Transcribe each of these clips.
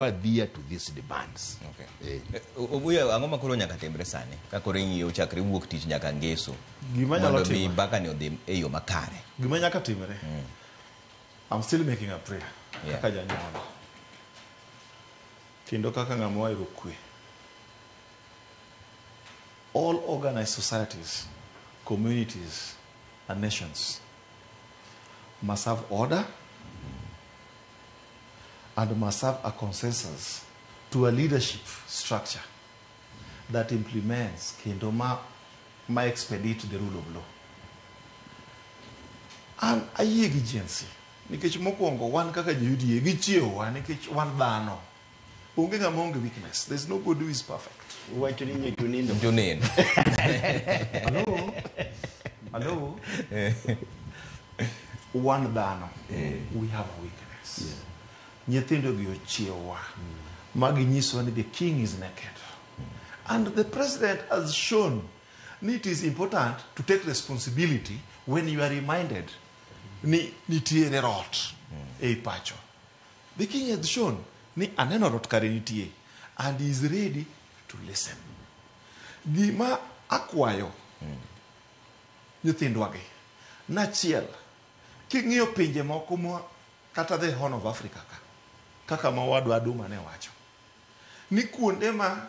adhiya to these demands okay. eh. eh obuya ang'o makoro nyaka timre sani ka koro ing'iyo chakre wuok tich nyaka ngeso gima nyalo timo mondo baka ni odhi e yo makare gima nyaka timre mm. i'm still making a prayer yeah. kaka janyuola kendo kaka ng'ama wahero kwe all organized societies communities and nations must have order and must have a consensus to a leadership structure that implements kendo ma, ma expedite the rule of law. An ayie gi Gen Z nikech mokwongo wan kaka jo UDA gichiewowa nikech wan dhano. onge ng'ama onge weakness there's no good who is perfect Uwacho ni nyicho nindo. Joneno. Hello? Hello? wan dhano we have a weakness nyithindogi ochiewa ma ginyisowa ni the king is naked and the president has shown ni it is important to take responsibility when you are reminded ni nitiere rot ei pacho The king has shown ni aneno rot kare nitie and he is ready to listen. Gima akwayo nyithindwa gi nachiel king'iyo pinje moko ma kata the horn of Africa ka kaka ma wadwa Aduma ne wacho ni kuonde ma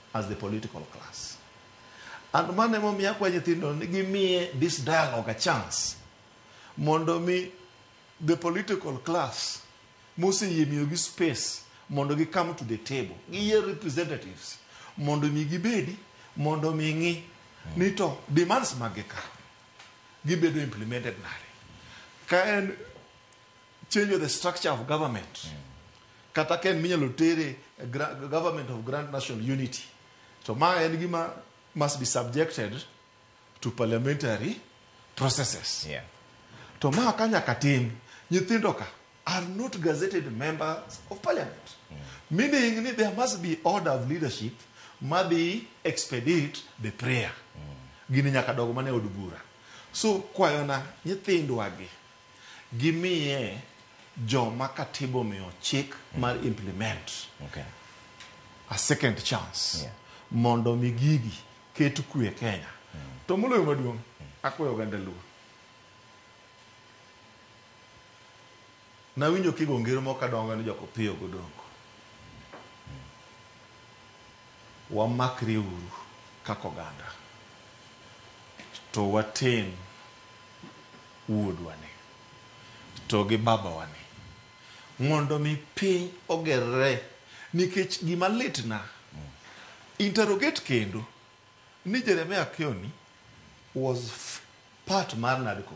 as the political class. And mano emomiyo akwa nyithindo ni gimiye this dialogue a chance mondo mi the political class moseyie miyogi space mondo gi come to the table giyier representatives mondo mi gibedi mondo mi ng'i ni to demands mag gi ka gibedo implemented nade ka en change of the structure of government kata ka en minyalo tere e gra- government of grand national unity to ma en gima must be subjected to parliamentary processes Yeah. to ma ka nyaka tim nyithindo ka are not gazetted members of parliament meaning ni there must be order of leadership madhi expedite the prayer gini nyaka dog mana e od bura so kwayona nyithindwagi Gimiye joma katiba omiyo chik mar implement Okay. a second chance Yeah. mondo mi gigi ket kwe e Kenya. To moloyo maduong' akwayo oganda Luo. Nawinjo kigo ngero moko kadongo ni jok opiyo godongo. Wamakre uru kaka oganda to watem wuodwani, to gi babawani, mondo mi piny ogerre, nikech gima litna, interrogate kendo, ni Jeremiah Kioni was part mar NADCO,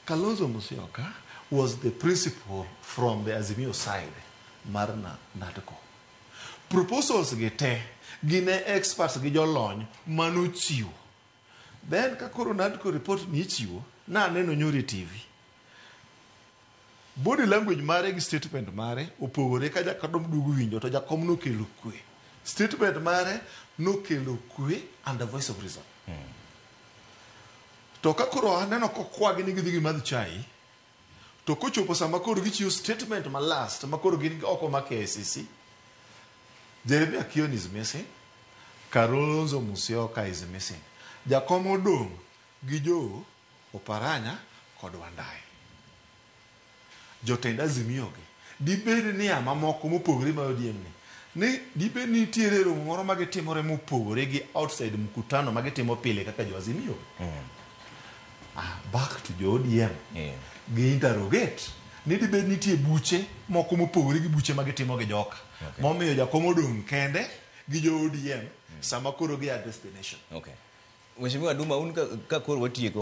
Kalonzo Musyoka was the principal from the Azimio side mar NADCO. Proposals gi te, gin e experts gi jolony mane ochiwo. Then ka koro nandiko report ni ichiwo, naneno nyoro e TV. Body language mare gi statement mare opogore ka jakom duogo winjo to jakom nokelo kwe. Statement mare nokelo kwe and the voice of reason. To ka koro aneno kokwagi ni gidhi gimadh chai, To kochopo sama koro gichiwo statement ma last ma koro gin oko ma KICC, Jeremia Kioni is missing, Kalonzo Musyoka is missing. Jakom odong' gi Joe Oparanya kod Wandayi. Jotend Azimio gi Dibed nia mamoko mopogore ma ODM ni, ni dibed ni nitiere romo moro ma gitimore mopogore gi outside mkutano ma gitimo pile kaka jo Azimio? Ah, back to jo ODM. Yeah. Gi interrogate ni dibed nitie buche moko mopogore gi buche ma gitimo gi joka. Okay. Momiyo jakom odong' kende gi jo ODM sama koro gi address the nation. Okay. Mheshimiwa Duma, un ka, ka koro watieko